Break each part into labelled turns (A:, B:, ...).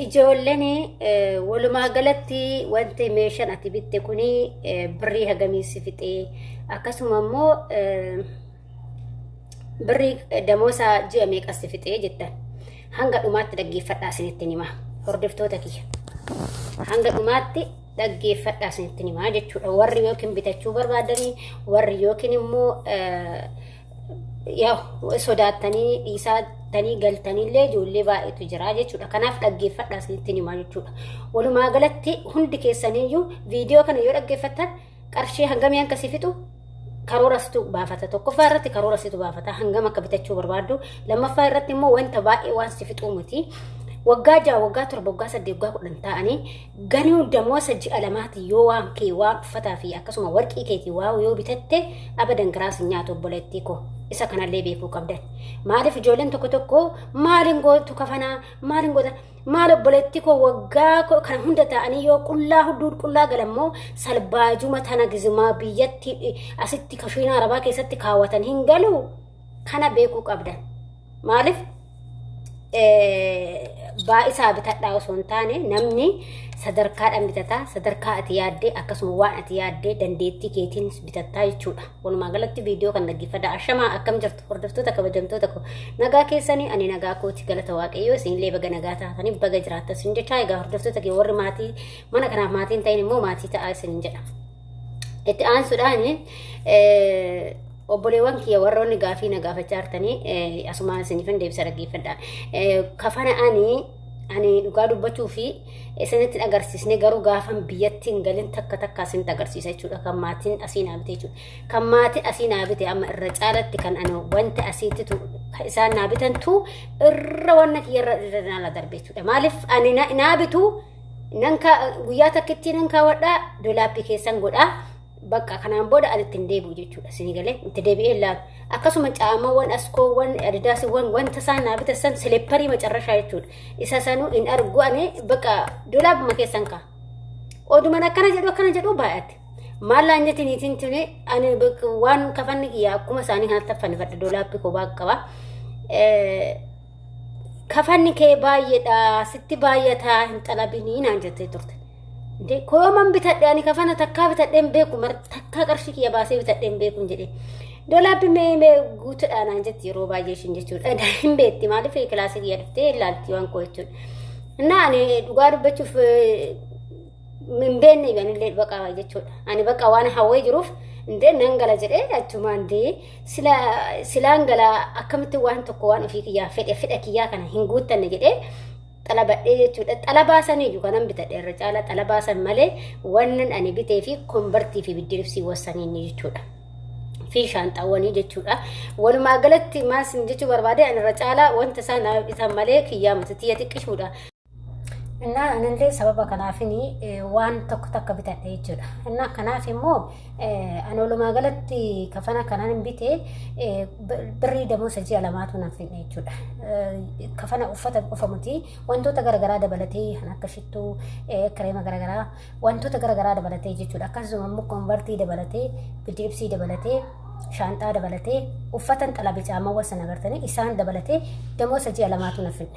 A: Ijoolleen walumaa galatti wanti meeshaan ati bitte kun birrii hagamii si fixee akkasuma immoo birrii damoosaa ji'a meeqa si fixee jettan hanga dhumaatti dhaggeeffadhaa isinitti himaa hordoftoota kiyya hanga dhumaatti dhaggeeffadhaa isinitti himaa jechuudha warri yookiin bitachuu barbaadanii warri yookiin immoo Yaa'u sodaattanii dhiisaa tanii galtanillee ijoollee baay'eetu jira jechuudha. Kanaaf dhaggeeffadhaa isinitti himaa jechuudha. Walumaa galatti hundi keessaniyyuu viidiyoo kana yoo dhaggeeffattan qarshii hangamii akka si fixu karoora situ baafata. Tokkoffaa irratti karoora situ baafata. Hangam akka bitachuu barbaaddu. Lammaffaa irratti immoo wanta baay'ee waan si fixuu miti. Waggaa ja'a, waggaa torba, waggaa saddeet, waggaa kudhan ta'anii Ganuu damoosa ji'a lamaati yoo waan kee waan uffataa fi akkasuma warqii keetii waa'u yoo bitatte abadan garaas hin nyaatu obboleettii koo isa kanallee beekuu qabdan maaliif ijoolleen tokko tokko maaliin gootu kafanaa maaliin goota maal obboleettii koo waggaa ko- kana hunda ta'anii yoo qullaa hudduu qullaa galammoo salbaajuma tana gizumaa biyyatti asitti kashiinaa arabaa keessatti kaawwatan hin galu kana beekuu qabdan. Maaliif baay'isaa bitadhaa osoo hin taane namni sadarkaadhaan bitataa sadarkaa ati yaaddee akkasuma waan ati yaaddee dandeettii keetiin bitattaa jechuudha. Walumaa galatti viidiyoo kan dhaggeeffadha. Ashamaa akkam jirtu hordoftoota kabajamtoota koo nagaa keessanii ani nagaa kooti galata waaqayyoo isinillee baga nagaa taatanii baga jiraattan isin jechaa egaa hordoftoota kee warri maatii mana kanaaf maatiin ta'in immoo maatii ta'aa isin jedha. Itti aansuudhaan obboleewwan kiyya warroonni gaafii na gaafachaa jirtanii asumaan isiniifan deebisa dhaggeeffadha. Kafana ani ani dhugaa dubbachuu fi isinitti agarsiisne garuu gaafan biyyatti hin galin takka takka isinitti agarsiisa jechuudha kan maatiin asii naa bite jechuudha. Kan maatiin asii naa bite amma irra caalatti kan ani wanti asiitti tu isaan naa bitantu irra wanna kiyya irra irra naa darbe jechuudha. Maaliif ani naa bitu nan kaa guyyaa takkittii nan kaawwadhaa dolaappii keessan godhaa bakka kanaan booda ani ittiin deebi'u jechuudha isinii galee itti deebi'ee laalu akkasuma caamawwan askoowwan adidaasiwwan wanta isaan naa bitassan sileepparii macarrashaa jechuudha isa sanuu hin argu ani bakka dolaabuma keessan kaa oduman akkana jedhu akkana jedhu baay'ate maallaan jetti niitiin tuni ani waan kafanni kiyya akkuma isaanii kanatti affannifadha dolaappii koo baaqqa qaba. kafanni kee baay'eedha sitti baay'ataa hin xalabinii naan jettee turte. Dee kooman bitadhe ani kafana takkaa bitadhe hin beeku mar takkaa qarshii kiyya baasee bitadhe hin beeku hin jedhe. Dolaabbi mee mee guutuudhaan naan jetti yeroo baay'ee ishiin jechuudha. Egaa hin beekti maaliif kilaasii kiyya dhuftee ilaalti waan koo jechuudha. Innaa ani dhugaa dubbachuuf hin beekne anillee baqa jechuudha. Ani baqa waan hawwee jiruuf indee nan gala jedhee achumaan dee sila silaan gala akkamitti waan tokko waan ofii kiyyaa fedhe fedha kiyyaa kana hin guuttanne jedhee xalabadhee jechuudha. Xalabaa saniyyuu kanan bitadhe irra caala xalabaa san malee wannan ani bitee fi konbartii fi biddiribsii wassaniin jechuudha. fi shaanxaawwanii jechuudha. Walumaa galatti maal sin jechuu barbaade ani irra caalaa wanta isaan bitan malee kiyyaa miti tiyya xiqqishuudha. Innaa anillee sababa kanaafin waan tokko takka bitadhe jechuudha. Innaa kanaaf immoo ani walumaa galatti kafana kanaan bite birrii damoosa ji'a lamaatu naaf fidne jechuudha. Kafana uffata qofa miti wantoota garaagaraa dabalatee kan akka shittuu kireema garaagaraa wantoota garaagaraa dabalatee jechuudha. Akkasuma immoo konvartii dabalatee bidiibsii dabalatee shaanxaa dabalatee uffatan xalabe caamawwan sana agartanii isaan dabalatee damoosa ji'a lamaatu naaf fidne.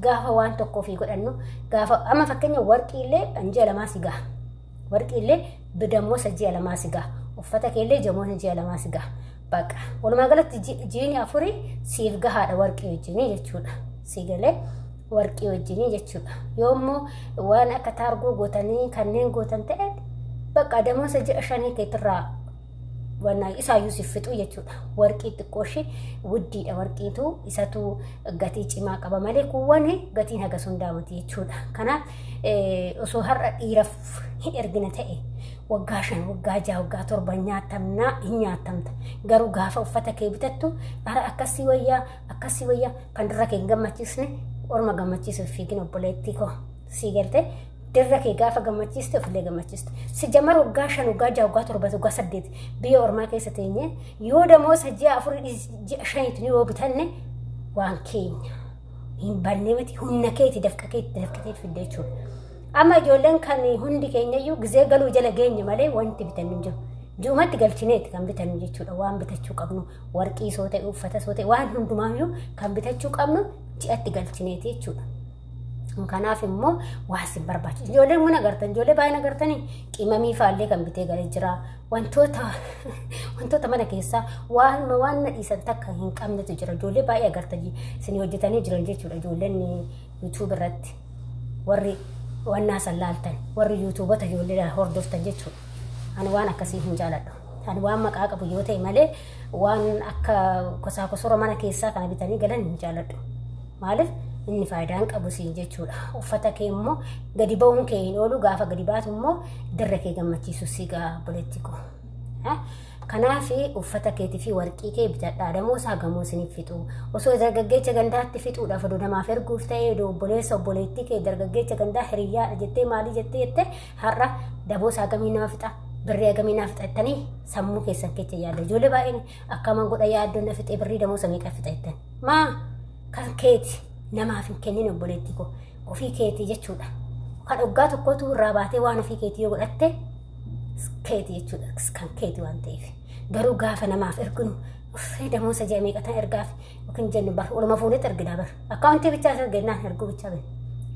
A: Gaafa waan tokko ofii godhannu gaafa amma fakkeenya warqii illee an ji'a lamaa si gaha. Warqii illee bidammosa ji'a lamaa si gaha. Uffata kee illee jamoota ji'a lamaa si gaha. Baqa. Walumaa galatti jiini afurii siif gahaadha warqii wajjinii jechuudha. Si galee warqii wajjinii jechuudha. Yoo immoo waan akka taargoo gootanii kanneen gootan ta'e baqa damosa ji'a shanii keetirraa wannaa isaayyuu si fixu jechuudha. Warqii xiqqoo ishee wuddiidha warqiitu isatu gatii cimaa qaba malee kuuwwan gatiin haga sun daamati jechuudha. Kanaaf osoo har'a dhiiraaf hin ergina ta'e waggaa shan waggaa jaha waggaa torba nyaatamnaa hin nyaatamta. Garuu gaafa uffata kee bitattu bara akkasii wayyaa akkasii wayyaa kan dura kee hin gammachiisne orma gammachiisuuf fiigin obboleettii koo sii galtee Dirra kee gaafa gammachiiste ofillee gammachiistu. Si jamar waggaa shan waggaa jaha waggaa torba waggaa saddeet biyya ormaa keessa teenye yoo damoosa ji'a afurii dhis- ji'a shaniitu ni yoo bitanne waan keenya hin banne miti humna keeti dafqa keetti dafqa keetti fidde jechuudha. Amma ijoolleen kan hundi keenyayyuu gizee galuu jala geenye malee wanti bitannu hin jiru. Ji'umatti galchineeti kan bitannu jechuudha waan bitachuu qabnu warqii soo ta'e uffata soo ta'e waan hundumaayyuu kan bitachuu qabnu ji'atti galchineeti jechuudha. Kanaaf immoo waa isin barbaachisu. Ijoollee mana agartan, ijoollee baay'ina agartanii qimamii faallee kan bitee galee jira. Wantoota wantoota mana keessaa waan waan na dhiisan takka hin qabnetu jira. Ijoollee baay'ee agartanii isin hojjetanii jiran jechuudha. Ijoolleen YouTube irratti warri wannaa san laaltan, warri YouTubota ijoollee hordoftan jechuudha. Ani waan akkasii hin jaaladhu. Ani waan maqaa qabu yoo ta'e malee waan akka kosaa kosora mana keessaa kana bitanii galan hin jaaladhu. Maaliif inni faayidaan qabu siin jechuudha. Uffata kee immoo gadi ba'uun kee hin oolu gaafa gadi baatu immoo dirra kee gammachiisu si gaa boletti koo. Kanaaf uffata keetii fi warqii kee bitadhaa damoo isaa gamoo isiniif fixu. Osoo dargaggeecha gandaatti fixuudhaaf odoo namaaf erguuf ta'ee odoo obboleessa obboleettii kee dargaggeecha gandaa hiriyyaadha jettee maalii jettee jettee har'a daboo isaa gamii nama fixa birrii hagamii naa fixa jettanii sammuu keessan keessa yaada ijoollee baay'een akkaman godha yaaddoo na fixee birrii damoo samii qaa fixa jettan maa kan keeti namaaf hin kennin obboleettii koo ofii keetii jechuudha kan waggaa tokkootu irraa baatee waan ofii keetii yoo godhatte keetii jechuudha kan keetii waan ta'eef garuu gaafa namaaf erginu uffee damoo isa ji'a meeqatan ergaaf yookiin jennu bar oluma fuunetti erginaa bar akkaawuntii bichaa isa erginaan erguu bichaa bari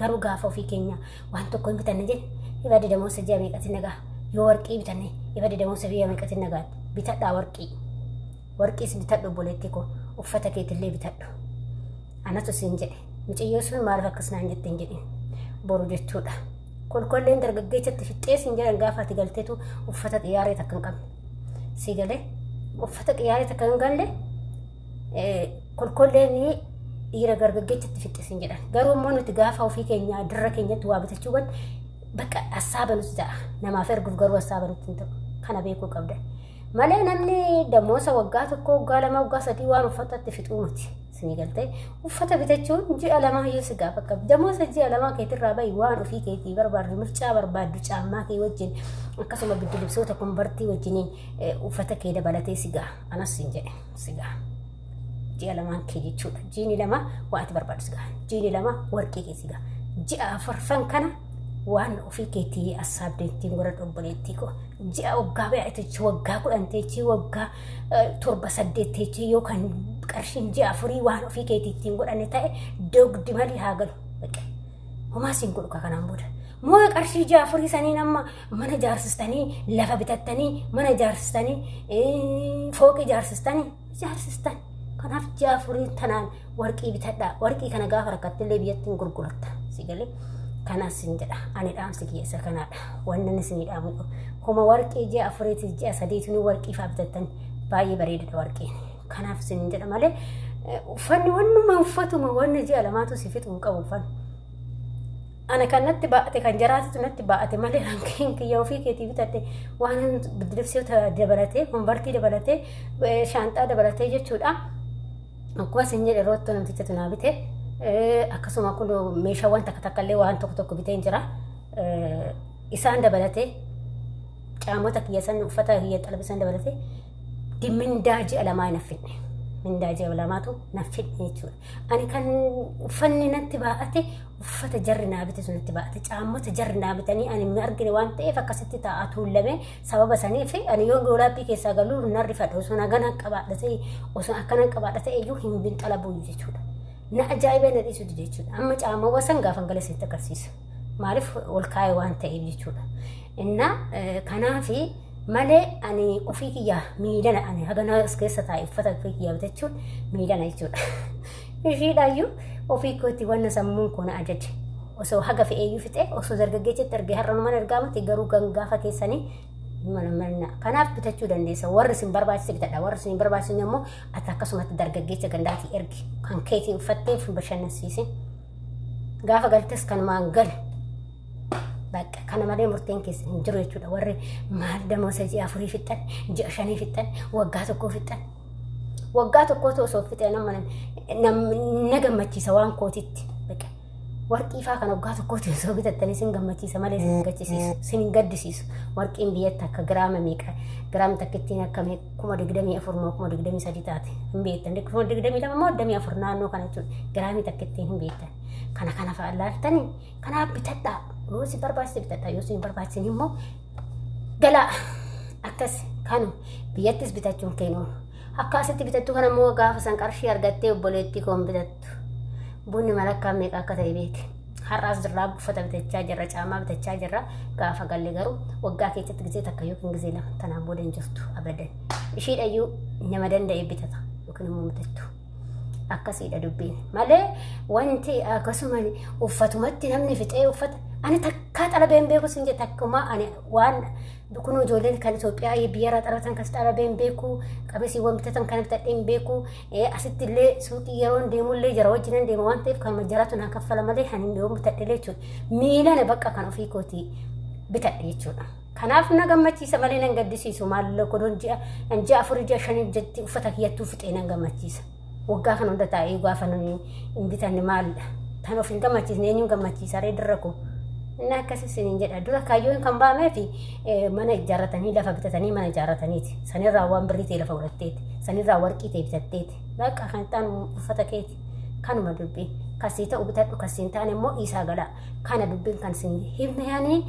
A: garuu gaafa ofii keenya waan tokko hin bitanne jee ibadde damoonsa ji'a meeqatiin nagaa yoo warqii bitanne ibadde damoonsa biyya meeqatiin nagaa bitadhaa warqii warqiis bitadhu obboleettii koo uffata keetillee bitadhu anatu siin jedhe mucayyoo sun maaliif akkas naan jette hin jedhin boru jechuudha kolkolleen dargaggeessatti fixxee siin jedhan gaafa ati galteetu uffata xiyaaree takka hin qabne sii galee uffata xiyaaree takka hin galle kolkolleen dhiira gargaggeessatti fixxisin jedhan garuu immoo nuti gaafa ofii keenya dirra keenyatti waa bitachuu godhe bakka assaaba nuti ta'a namaaf erguuf garuu assaaba nuti hin ta'u kana beekuu qabda malee namni damoosa waggaa tokko waggaa lama waggaa sadii waan uffatatti fixuu miti isinii galtee uffata bitachuun ji'a lamaa yoo si gaafa qabu damoosa ji'a lamaa keetirraa bahi waan ofii keetii barbaaddu mircaa barbaaddu caammaa kee wajjin akkasuma biddilibsoota konbartii wajjiniin uffata kee dabalatee si gaha anas hin jedhe. sigaa ji'a lamaan kee jechuudha jiini lama waa ati barbaadu sigaa jiini lama warqii kee sigaa ji'a afarfan kana waan ofii keetii assaabdeettiin warra dhobboleettii koo ji'a waggaa bayaa teechii waggaa kudhan teechii waggaa torba saddeet teechii yookaan qarshiin ji'a afurii waan ofii keetiittiin godhanne ta'e dogdi malee haa galu. Homaa siin godhu ka kanaan booda. Moo qarshii ja'a afurii saniin amma mana jaarsistanii lafa bitattanii mana jaarsistanii eh, fooqii jaarsistanii jaarsistan. Kanaaf ja'a afurii tanaan warqii bitadhaa. Warqii kana gaafa rakkattillee biyyatti hin gurguratta. Si galee kanas sin jedha. Ani dhaamsi kiyya isa kanaadha. Wanni inni isinii dhaamu kun. Homa warqii ji'a afuriitis ji'a sadiitinuu warqii fa'aa bitattan baay'ee bareedadha warqiin. Kanaaf isin jedha malee uffanni wannuma uffatuma wanna ji'a lamaatu si fixu hin qabu uffanni. Ana kan natti baate kan jaraatitu natti baate malee hanqeen kiyya ofii keetii bitadhe waan biddilibsiota dabalatee konvartii dabalatee shaanxaa dabalatee jechuudha. Akkuma isin jedhe roottuu namticha tunaa bite akkasuma kun meeshaawwan takka takka illee waan tokko tokko bitee jira. Isaan dabalatee caamota kiyya san uffata kiyya xalabisan dabalatee mindaa ji'a lamaa hin affidne. Mindaa ji'a lamaatu naaf fidne jechuudha. Ani kan uffanni natti baa'ate uffata jarri naa bite sun natti baa'ate caammota jarri naa bitanii ani hin argine waan ta'eef akkasitti taa'aa tuullame sababa saniif ani yoo doolaapii keessaa galuu hin arrifadha osoo nagaan qabaadha ta'e osoo akkanan qabaadha ta'e iyyuu hin binxalabuun jechuudha. Na ajaa'ibee na dhiisu dide jechuudha. Amma caammawwa san gaafan gala isinitti agarsiisa. Maaliif ol kaa'e waan ta'eef jechuudha. Innaa kanaafi malee ani ofii kiyya miidhana ani haganaa as keessa taa'e uffata ofii kiyya bitachuun miidhana jechuudha. Ishiidhaayyuu ofii kootti wanna sammuun kun ajaje. Osoo haga fe'eeyyuu fixee osoo dargaggeessatti argee har'a numan argaa miti garuu gangaafa keessanii mana manna. Kanaaf bitachuu dandeessa. Warri isin barbaachise bitadha. Warri isin hin barbaachisne immoo ati akkasumatti dargaggeessa gandaatii ergi. Kan keetiin uffattee fi bashannansiisin. Gaafa galtes kanumaan gali. Bakka kana malee murteen keessan hin jiru jechuudha. Warri maal damoosa ji'a afurii fixxan, ji'a shanii fixxan, waggaa tokkoo fixxan. Waggaa tokkootu osoo fixee nama na gammachiisa waan kootitti. Warqii faa kan waggaa tokkootti osoo bitattanii sin gammachiisa malee sin gaddisiisu, sin gaddisiisu. Warqiin biyyatti akka giraama meeqa, giraam takkittiin akka kuma digdamii afur moo kuma digdamii sadii taate hin beektan. Kuma digdamii lama moo digdamii afur naannoo kana jechuudha. Giraamii takkittiin hin beektan. Kana kana fa'aa laaltanii Kanaaf bitadhaa yoo si barbaachise bitadhaa yoo si hin barbaachise immoo galaa akkas kanu biyyattis bitachuun keenu akka asitti bitattu kana immoo gaafa san qarshii argattee obboleettii koon bitattu bunni malakkaa meeqa akka ta'e beeki. Har'aas jirraa uffata bitachaa jirra caamaa bitachaa jirra gaafa galle garuu waggaa keessatti gisee takka yookiin gisee lama tanaan booda hin jirtu abadan ishiidhayyuu nama danda'e bitata yookiin immoo bitattu. akkasiidha dubbiin malee wanti akkasuma uffatumatti namni fixee uffata ani takkaa xalabee hin beeku sin jette akkuma ani waan kun ijoolleen kan Itoophiyaa biyyarraa xalatan kas xalabee hin beeku qabesiiwwan bitatan kan bitadhee hin beeku asitti illee suuqii yeroon deemullee jara wajjin hin deema waan ta'eef kan majjaraatu naa kaffala malee kan hin beeku bitadhee jechuudha miilana bakka kan ofii kootii bitadhee jechuudha. Kanaaf na gammachiisa malee nan gaddisiisu maalloo kodoon ji'a an ji'a afurii ji'a shanii jetti uffata kiyyattuu fixee nan gammachiisa. Waggaa kana hunda taa'ee gaafa nuni hin bitanne maalidha. Tan of hin gammachiisne eenyuun gammachiisa ree dirra koo. Inni akkasii isiniin jedha dura kaayyoon kan ba'ameef mana ijaarratanii lafa bitatanii mana ijaarrataniiti. Sanirraa waan birrii ta'e lafa godhatteeti. Sanirraa warqii ta'e bitatteeti. Bakka kan ta'an uffata keeti. Kanuma dubbii. Kasii ta'u bitadhu kasii hin taane immoo dhiisaa galaa. Kana dubbiin kan isin himne yaanii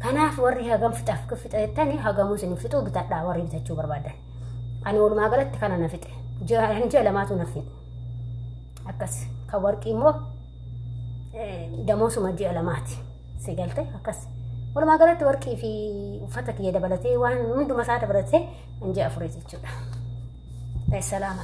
A: Kanaaf warri hagam fixaaf fixa jettani hagamuu isin fixuu bitadhaa warri bitachuu barbaadan. Ani walumaa galatti kana na fixe. Jiran ji'a lamaatu na fixe. Akkas kan warqii immoo damoosuma ji'a lamaati. Si galte akkas. Walumaa galatti warqii fi uffata kiyya dabalatee waan hunduma isaa dabalatee ji'a afurii jechuudha. Salaama.